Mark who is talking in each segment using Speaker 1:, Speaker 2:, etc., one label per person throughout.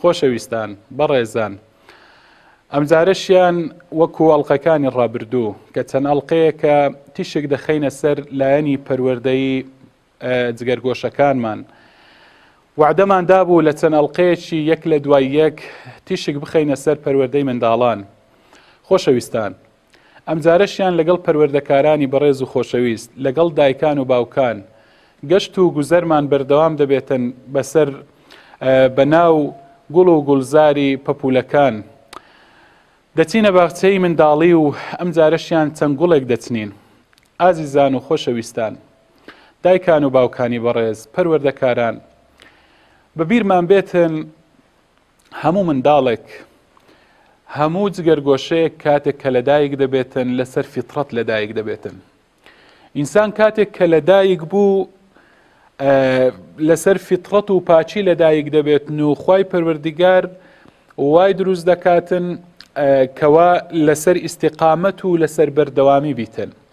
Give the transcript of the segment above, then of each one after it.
Speaker 1: خۆشەویستان، بەڕێزان، ئەمجارەشیان وەکو ئەڵقەکانی ڕابردوو کە چەند ئەڵقەیەکە تیشک دەخەینە سەر لایەنی پەروەردەی جگەرگۆشەکانمان. وەعدەمان دابوو لە چەند ئەڵقەیەکی یەک لە دوای یەک تیشک بخەینە سەر پەروەردەی منداڵان. خۆشەویستان، ئەمجارەشیان لەگەڵ پەروەردەکارانی بەڕێز و خۆشەویست، لەگەڵ دایکان و باوکان، گەشت و گوزەرمان بەردەوام دەبێتن بەسەر بەناو گوڵ و گوڵزاری پەپولەکان. دەچینە باخچەی منداڵی و ئەمجارەشیان چەند گوڵێک دەچنین. ئازیزان و خۆشەویستان، دایکان و باوکانی بەڕێز، پەروەردەکاران، بەبیرمان بێتن، هەموو منداڵێک هەموو جگەرگۆشەیەک کاتێک کە لەدایک دەبێتن لەسەر فیتڕەت لەدایک دەبێتن ئینسان کاتێک کە لەدایک بوو لەسەر فیتڕەت و پاچی لەدایک دەبێتن و خی پەروەردیگار وای دروست دەکاتن کەوا لەسەر ئیسیقامەت و لەسەر بەردەوامی بیتن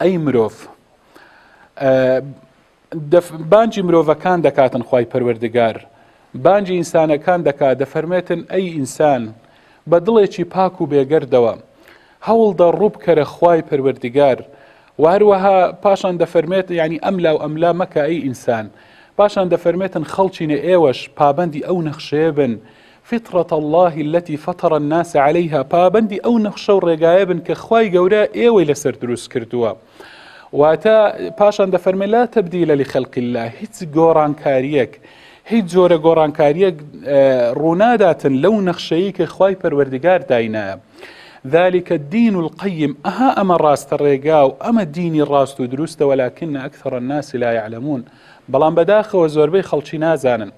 Speaker 1: ئەی مرۆڤ دەف بانجی مرۆڤەکان دەکاتن خی پەروەردگار بانجی ئینسانەکان دەکات دەفەرمێتن ئەی ئینسان بە دڵێکی پاک و بێگەردەوە هەوڵدە ڕووبکەرە خوای پەروەردگار و هەروەها پاشان دەفەرمێت ینی ئەم لاو ئەملا مەکە ئەی ئینسان پاشان دەفەرمێتن خەڵچینە ئێوەش پابەندی ئەو نەخشەیە بن فطرة اللە التي فطر الناس علیها، پابەندی ئەو نەخشە و ڕێگایە بن کە خوای گەورە ئێوەی لەسەر دروست کردووە. واتە، پاشان دەفەرمێ، لا تبدیل لخلق اللە، هیچ گۆڕانکارییەک، هیچ جۆرە گۆڕانکارییەک ڕووناداتن لەو نەخشەیەی کە خوای پەروەردگار داینایە. ذلک الدین القیم، ئەها ئەمە ڕاستە ڕێگا و ئەمە دینی ڕاست و دروستە ولکن اکثر الناس لا یعلمون، بەڵام بەداخەوە زۆربەی خەڵکی نازانن.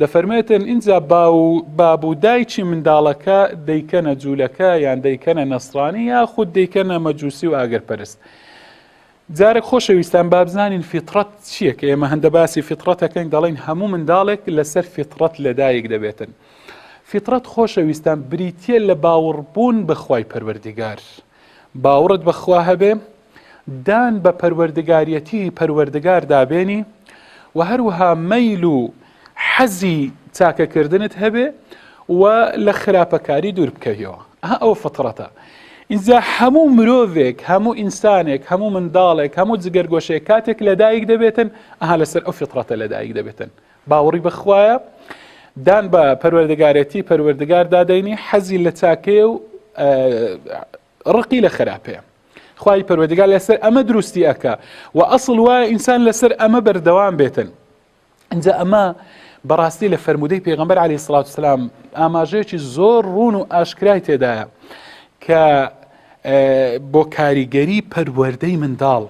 Speaker 1: دەفەرمێتن ئینجا باو و باب و دایکی منداڵەکە دەیکەنە جوولەکە یان دەیکەنە نەسرانی یاخود دەیکەنە مەجووسی و ئاگرپەرست. جارێک خۆشەویستان بابزانین فیتڕەت چییە کە ئێمە هەندە باسی فیتڕەتەکەین دەڵین هەموو منداڵێک لەسەر فیتڕەت لەدایک دەبێتن. فیتڕەت خۆشەویستان بریتە لە باوەڕبوون بەخوای پەروەردیگار. باوەڕت بەخوا هەبێ دان بە پەروەردگاریەتیی پەروەردگاردا بێنی و هەروەها مەیل و حەزی چاکەکردنت هەبێ و لە خراپەکاری دوور بکەویەوە ئەها ئەوە فطرەتە ئینجا هەموو مرۆڤێک هەموو ئینسانێک هەموو منداڵێک هەموو جگەرگۆشەیە کاتێک لەدایک دەبێتن ئەها لەسەر ئەو فطرەتە لەدایک دەبێتن باوەڕی بەخوایە دان بە پەروەردەگارەتی پەروەردگار دادەینی حەزی لە چاکەیە و ڕقی لە خراپەیە خوای پەروەردگار لەسەر ئەمە دروستی ئەکا و ئەسڵ وایە ئینسان لەسەر ئەمە بەردەوام بێتن اینجا ئەمە بەڕاستی لە فەرمودەی پێغمبەر علی سلاات وسلام ئاماژەیەکی زۆر ڕون و ئاشکرای تێدایە کە بۆ کاریگەری پەروەەردەی منداڵ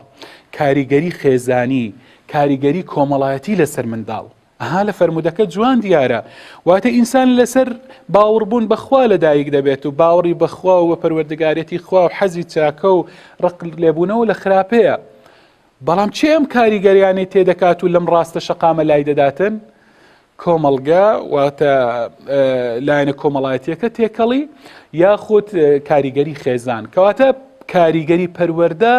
Speaker 1: کاریگەری خێزانی کاریگەری کۆمەڵایەتی لەسەر منداڵ ئەها لە فەرموودەکە جوان دیارە واتە ئینسان لەسەر باوەڕبوون بەخوا لە دایک دەبێت و باوەڕی بەخوا و بە پەروەردگارەتی خوا و حەزی چاکە و ڕق لێبوونەوە لە خراپەیە بەڵام چێ ئەم کاریگەریانەی تێدەکات و لەم ڕاستە شەقامە لای دەداتن کۆمەڵگە واتە لایەنە کۆمەڵایەتیەکە تێکەڵی یاخود کاریگەری خێزان کەواتە کاریگەری پەروەەردە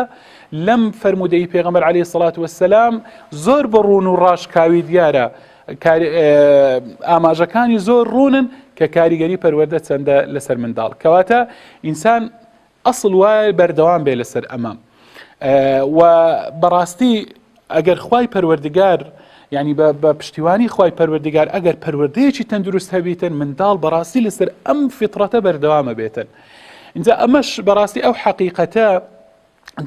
Speaker 1: لەم فەرموودەی پێغەمبەر عەلەیهی سەڵات وەسەلام زۆر بە ڕوون و ڕاشکاوی دیارە ئاماژەکانی زۆر ڕوونن کە کاریگەری پەروەەردە چەندە لەسەر منداڵ کەواتە ئینسان ئەسڵ وایە بەردەوام بێ لەسەر ئەمە و بەڕاستی ئەگەر خی پەروەردگار ینی بە پشتیوانی خی پەروەردگار ئەگەر پەروەردەیەکی تەندروست هەبیتن منداڵ بەڕاستی لەسەر ئەم فیتڕەتە بەردەوامە بێتن. اینجا ئەمەش بەڕاستی ئەو حەقیقەتە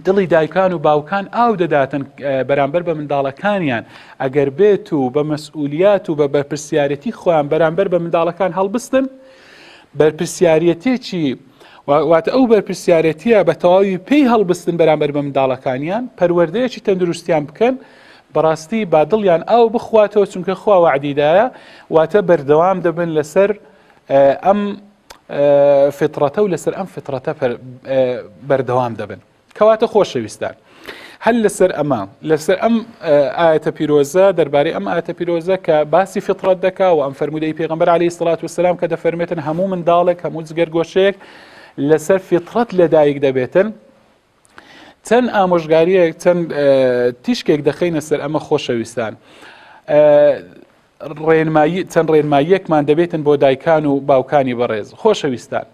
Speaker 1: دڵی دایکان و باوکان ئاو دەداتن بەرامبەر بە منداڵەکانیان ئەگەر بێت و بە مەسئولیات و بە بەرپرسیارەتی خۆیان بەرامبەر بە منداڵەکان هەڵبستن بەرپرسیارەتێکی واتە ئەو بەرپرسیارەتیە بە تەواوی پێی هەڵبستن بەرامبەر بە منداڵەکانیان پەروەردەیەکی تەندروستیان بکەن بەڕاستی با دڵیان ئاو بخواتەوە چونکە خوا وعدیدایە واتە بەردەوام دەبن لەسەر ئەم فطرەتە و لەسەر ئەم فطرەتە بەردەوام دەبن کەواتە خۆشەویستان هەل لەسەر ئەمە لەسەر ئەم ئاەتە پیرۆزە دەربارەی ئەم ئاەتە پیرۆزە کە باسی فطرەت دەکا و ئەم فرەرمودەی پێغمبەر عليه سلات وسلام کە دەفەرمێتن هەموو منداڵێک هەموو جگەر گۆشەیەک لەسەر فطرەت لەدایک دەبێتن چەند ئامۆژگاریەک چەند تیشکێک دەخینە سەر ئەمە خۆشەویستان. ڕێنمایی چەند ڕێنماییەکمان دەبێتن بۆ دایکان و باوکانی بەڕێز خۆشەویستان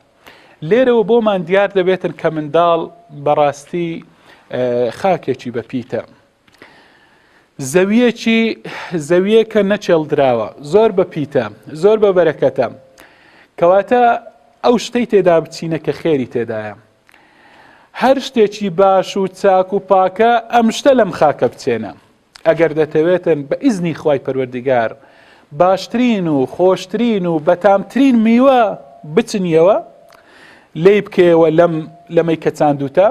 Speaker 1: لێرەوە بۆمان دیار دەبێتن کە منداڵ بەڕاستی خاکێکی بەپیتە زەویەکی زەویەکە نەچێڵدراوە زۆر بە پیتە زۆر بە بەرەکەتە کەواتە ئەو شتەی تێدا بچینە کە خێری تێدایە هەر شتێکی باش و چاک و پاکە ئەم شتە لەم خاکە بچێنە ئەگەر دەتەوێتن بە ئیزنی خوای پەروەردگار باشترین و خۆشترین و بەتامترین میوە بچنیەوە لی بکەیەوە لەم لەمەی کە چاندوتە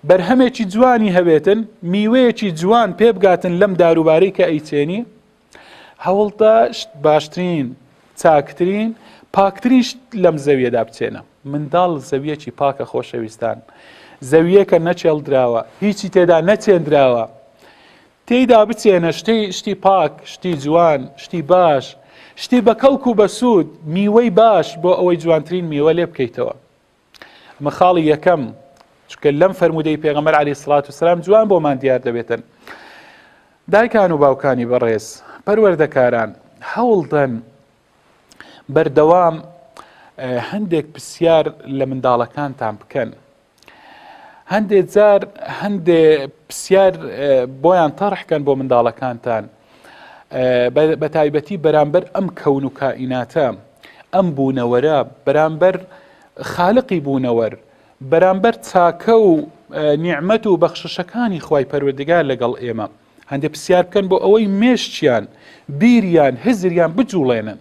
Speaker 1: بەرهەمێکی جوانی هەوێتن میوەیەکی جوان پێبگاتن لەم داروبارەی کە ئەیچێنی هەوڵدە شت باشترین چاکترین پاکترین شت لەم زەویەدا بچێنە منداڵ زەویەکی پاکە خۆشەویستان زەویەکە نەچێڵدراوە هیچی تێدا نەچێندراوە تێیدا بچێنە شتی شتی پاک شتی جوان شتی باش شتی بە کەڵک و بەسوود میوەی باش بۆ ئەوەی جوانترین میوە لێ بکەیتەوە ئەمە خاڵی یەکەم چکە لەم فەرمودەی پێغەمەر علی سڵات و سلام جوان بۆمان دیار دەبێتن دایکان و باوکانی بەڕێز پەروەردەکاران هەوڵدەن بەردەوام هەندێک پرسیار لە منداڵەکانتان بکەن هەندێ جار هەندێ پرسیار بۆیان تەڕحکەن بۆ منداڵەکانتان بەتایبەتی بەرامبەر ئەم کەون و کائیناتە ئەم بوونەوەرە بەرامبەر خالقی بوونەوەر بەرامبەر چاکە و نیعممەت و بەخششەکانی خی پەروەردگار لەگەڵ ئێمە هەندێک پرسیار بکەن بۆ ئەوەی مێشتیان بیریان هزریان بجوڵێنن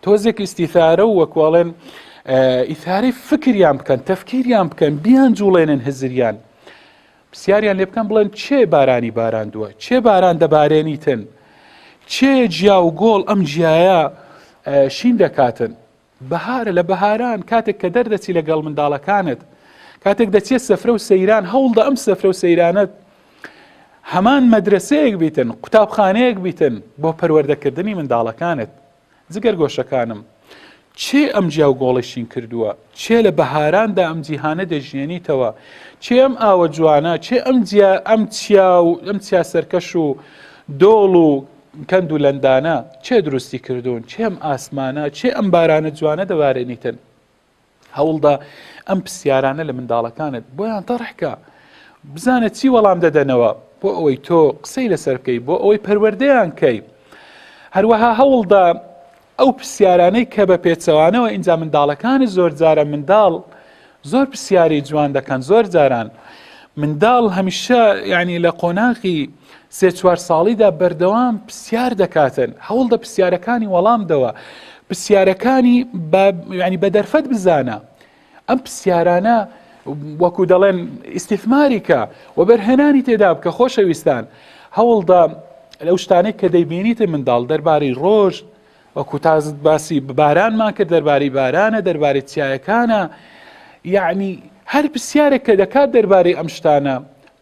Speaker 1: تۆزێک ئیسیثارە و وەکواڵێن ئیثارەی فکریان بکەن تەفکیریان بکەن بیان جوڵێنن هزریان پسیاریان لێ بکەن بڵێن چێ بارانی باراندووە چێ باران دەبارێنیتن چێ جیا و گۆڵ ئەم جیایە شین دەکاتن بەهارە لە بەهاران کاتێک کە دەردەچی لەگەڵ منداڵەکانت کاتێک دەچێت سەفرە و سەیران هەوڵدە ئەم سەفرە و سەیرانت هەمان مەدرسەیەک بیتن قوتابخانەیەک بیتن بۆ پەروەردەکردنی منداڵەکانت جگەر گۆشەکانم، کێ ئەم جیا و گۆڵەی شین کردووە؟ کێ لە بەهاراندا ئەم جیهانە دەژیێنیتەوە؟ کێ ئەم ئاوە جوانە؟ کێ ئەم جیا ئەم چیا و ئەم چیا سەرکەش و دۆڵ و کەند و لەندانە کێ دروستی کردوون؟ کێ ئەم ئاسمانە؟ کێ ئەم بارانە جوانە دەبارێنیتن؟ هەوڵدە ئەم پرسیارانە لە منداڵەکانت بۆیان تەڕحکە بزانە چی وەڵام دەدەنەوە بۆ ئەوەی تۆ قسەی لەسەر بکەی بۆ ئەوەی پەروەردەیان کەی هەروەها هەوڵدا ئەو پرسیارانەی کە بە پێچەوانەوە ئینجا منداڵەکانی زۆر جارە منداڵ زۆر پرسیاری جوان دەکەن زۆر جاران منداڵ هەمیشە ینی لە قۆناغی سێ چوار ساڵیدا بەردەوام پرسیار دەکاتن هەوڵدە پرسیارەکانی وەڵام دەوە پرسیارەکانی ینی بە دەرفەت بزانە ئەم پرسیارانە وەکو دەڵێن ئیسیثماریکە و بەرهێنانی تێدا بکە خۆشەویستان هەوڵدا لەو شتانێک کە دەیبینیتە منداڵ دەربارەی ڕۆژ وەکو تازت باسی بارانمان کرد دەربارەی بارانە دەربارەی چیایەکانە یعنی هەر پرسیارێک کە دەکات دەربارەی ئەم شتانە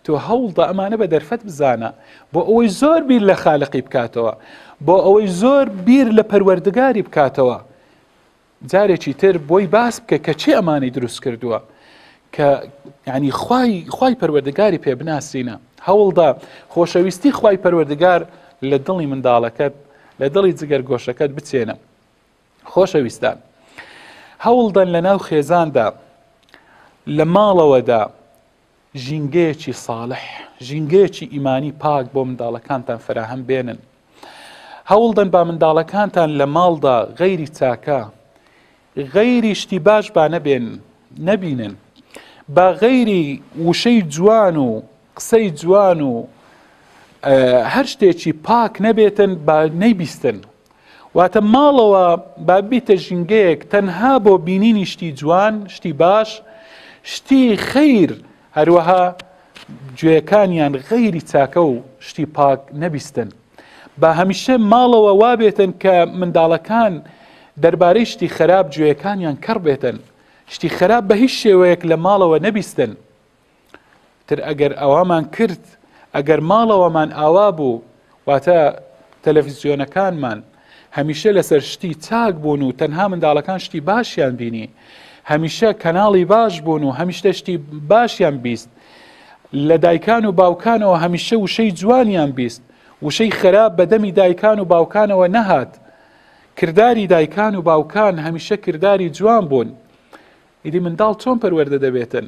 Speaker 1: تۆ هەوڵدا ئەمانە بە دەرفەت بزانە بۆ ئەوەی زۆر بیر لە خالقی بکاتەوە بۆ ئەوەی زۆر بیر لە پەروەردگاری بکاتەوە جارێکی تر بۆی باس بکە کە چی ئەمانی دروست کردووە کە ینی خی خی پەروەردگاری پێ بناسینە هەوڵدا خۆشەویستی خی پەروەردگار لە دڵی منداڵەکەت لە دڵی جگەر گۆشەکەت بچێنە خۆشەویستان هەوڵدەن لە ناو خێزاندا لە ماڵەوەدا ژینگەیەکی ساڵح ژینگەیەکی ئیمانی پاک بۆ منداڵەکانتان فراهەم بێنن هەوڵدەن با منداڵەکانتان لە ماڵدا غەیری چاکە غەیری شتی باش با نەبێن نەبینن با غەیری وشەی جوان و قسەی جوان و هەر شتێکی پاک نەبێتن با نەیبیستن واتە ماڵەوە با بیتە ژینگەیەک تەنها بۆ بینینی شتی جوان شتی باش شتی خیر هەروەها گوێەکانیان غەیری چاکە و شتی پاک نەبیستن بە هەمیشە ماڵەوە وابێتن کە منداڵەکان دەربارەی شتی خراپ گوێەکانیان کەڕ بێتن شتی خراپ بە هیچ شێوەیەک لە ماڵەوە نەبیستن تر ئەگەر ئەوامان کرد ئەگەر ماڵەوەمان ئاوا بوو واتە تەلەفیزیۆنەکانمان هەمیشە لەسەر شتی چاک بوون و تەنها منداڵەکان شتی باشیان بینی هەمیشە کەناڵی باش بوون و هەمیشتە شتی باشیان بیست لە دایکان و باوکانەوە هەمیشە وشەی جوانیان بیست وشەی خراپ بەدەمی دایکان و باوکانەوە نەهات کردداری دایکان و باوکان هەمیشە کردداری جوان بوون ئیدی منداڵ چۆن پەروەەردە دەبێتن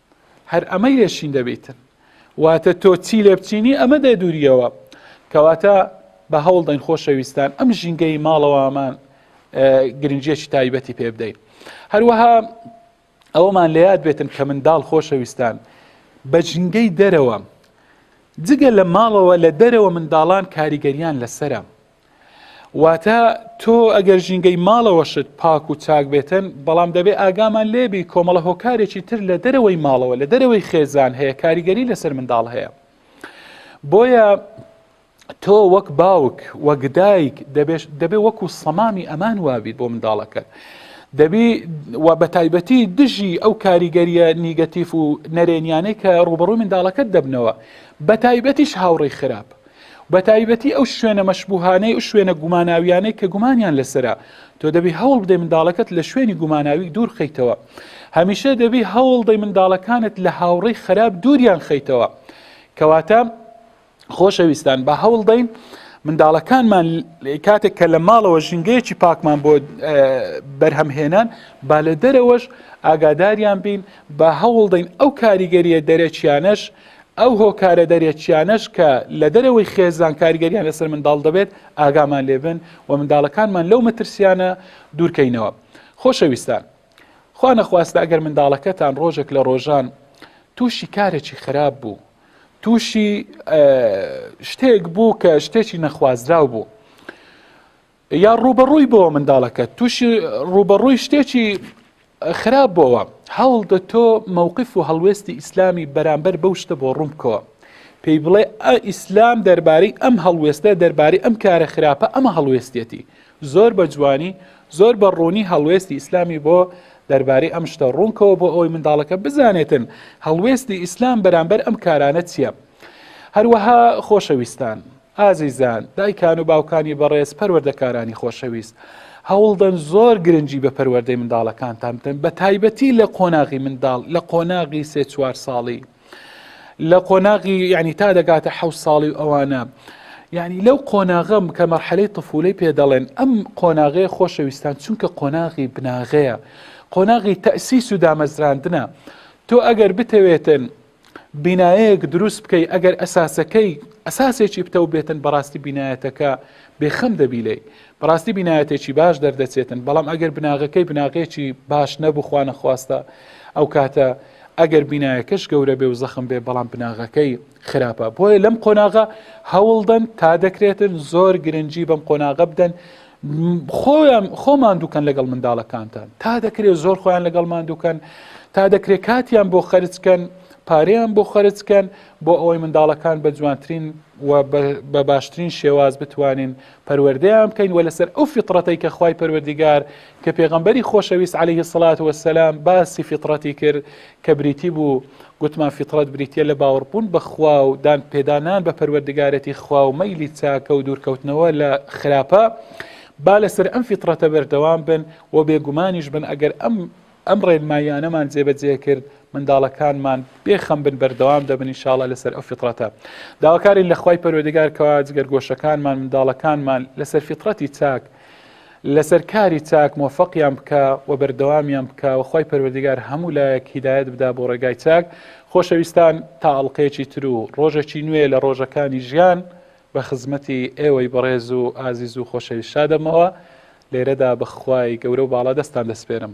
Speaker 1: هەر ئەمە یەشین دەبیتن واتە تۆ چی لێ بچینی ئەمە دێ دووریەوە کەواتە بە هەوڵ دەین خۆشەویستان ئەم ژینگەی ماڵەوامان گرنجیەکی تایبەتی پێ بدەین هەروەها ئەوەمان لە یاد بێتن کە منداڵ خۆشەویستان بە ژنگەی دەرەوە جگە لە ماڵەوە لە دەرەوە منداڵان کاریگەریان لەسرە واتە تۆ ئەگەر ژینگەی ماڵەوەشت پاک و چاک بێتن بەڵام دەبێ ئاگامان لێبی کۆمەڵە هۆکارێکی تر لە دەرەوەی ماڵەوە لە دەرەوەی خێزان هەیە کاریگەری لەسەر منداڵ هەیە بۆیە تۆ وەک باوک وەک دایک دەبێ وەکو سەمامی ئەمان وابیت بۆ منداڵەکەت. دەبی و بە تایبەتی دژی ئەو کاریگەریە نیگەتیف و نەرێنیانەی کە ڕوبەڕووی منداڵەکەت دەبنەوە بە تایبەتیش هاوڕێی خراپ بەتایبەتی ئەو شوێنە مەشبوهانەی و شوێنە گوماناویانەی کە گومانیان لەسەرە تۆ دەبی هەوڵ بدەی منداڵەکەت لە شوێنی گوماناوی دوور خیتەوە هەمیشە دەبی هەوڵ دەی منداڵەکانت لە هاوڕێی خراپ دووریان خیتەوە کەواتە خۆشەویستان بە هەوڵ دەین منداڵەکانمان کاتێک کە لە ماڵەوە ژینگەیەکی پاکمان بۆ بەرهەمهێنان با لە دەرەوەش ئاگاداریان بین با هەوڵدەین ئەو کاریگەریە دەرەکیانەش ئەو هۆکارە دەرەکییانەش کە لە دەرەوەی خێزان کاریگەریان لەسەر منداڵ دەبێت ئاگامان لێبن و منداڵەکانمان لەو مەترسیانە دوورکەینەوە خۆشەویستان خوا نەخواستە ئەگەر منداڵەکەتان ڕۆژێک لە ڕۆژان تووشی کارێکی خراپ بوو تووشی شتێک بوو کە شتێکی نەخوازراو بوو یا ڕوبەڕووی بۆ منداڵەکە تووشی ڕوبەڕووی شتێکی خراپ بۆەوە هەوڵ دە تۆ مەوقف و هەڵوێستی ئیسلامی بەرامبەر بەو شتە بۆ ڕوون بکەوە پێی بڵێ ئە ئیسلام دەربارەی ئەم هەڵوێستە دەربارەی ئەم کارە خراپە ئەمە هەڵوێستێتی زۆر بە جوانی زۆر بە ڕوونی هەڵوێستی ئیسلامی بۆ دەربارەی ئەم شتە ڕوونکەوە بۆ ئەوی منداڵەکە بزانێتن هەڵوێستی ئیسلام بەرامبەر ئەم کارانە چییە هەروەها خۆشەویستان ئازیزان دایکان و باوکانی بەڕێز پەروەردەکارانی خۆشەویست هەوڵدەن زۆر گرنگی بە پەروەردەی منداڵەکانتان بدەن بە تایبەتی لە قۆناغی منداڵ لە قۆناغی سێ چوار ساڵی لە قۆناغی ینی تا دەگاتە حە ساڵی و ئەوانە یعنی لەو قۆناغم کە مەرحەلەی طفولەی پێ دەڵێن ئەم قۆناغەیە خۆشەویستان چونکە قۆناغی بناغەیە قۆناغی تەسیس و دامەزراندنە تۆ ئەگەر بتەوێتن بینایەک دروست بکەی ئەگەر ئەساسەکەی ئەساسێکی پتەو بێتن بەڕاستی بینایەتەکە بێخەم دەبی لی بەڕاستی بینایەتێکی باش دەردەچێتن بەڵام ئەگەر بناغەکەی بناغێکی باش نەبخواانە خواستە ئەو کاتە ئەگەر بینایەکەش گەورە بێ و زەخم بێ بەڵام بناغەکەی خراپە بۆیە لەم قۆناغە هەوڵدەن تا دەکرێتن زۆر گرنگجی بەم قۆناغە بدەن خۆیان خۆ ماندووکەن لەگەڵ منداڵەکانتان تا دەکرێت زۆر خۆیان لەگەڵ ماندووکەن تا دەکرێت کاتیان بۆ خەرجکەن پارەیان بۆ خەرجکەن بۆ ئەوەی منداڵەکان بە جوانترین و بە باشترین شێواز بتوانین پەروەردەیان بکەین و لەسەر ئەو فیطرەتەی کە خی پەروەردیگار کە پێغمبەری خۆشەویست عليه سڵات وسلام باسی فیطرەتی کرد کە بریتی بوو، گوتمان فیتڕەت بریتییە لە باوەڕبوون بە خوا و دان پێدانان بە پەروەردگارێتی خوا و مەیلی چاکە و دوورکەوتنەوە لە خراپە، با لەسەر ئەم فیتڕەتە بەردەوام بن و بێگومانیش بن ئەگەر ئەم ئەم ڕێنماییانەمان جێبەجێ کرد منداڵەکانمان بێ خەم بن بەردەوام دەبن ان شاءاللە لەسەر ئەو فیتڕەتە داواکارین لە خوای پەروەردگار کەوا جگەرگۆشەکانمان منداڵەکانمان لەسەر فیتڕەتی چاک لەسەر کاری چاک مۆفەقیان بکا و بەردەوامیان بکا و خوای پەروەردیگار هەموو لایەک هیدایەت بدا بۆ ڕێگای چاک خۆشەویستان تا ئەڵقەیەکی تر و ڕۆژێکی نوێ لە ڕۆژەکانی ژیان بە خزمەتی ئێوەی بەڕێز و ئازیز و خۆشەویست شادەبمەوە لێرەدا بە خوای گەورە و باڵا دەستان دەسپێرم.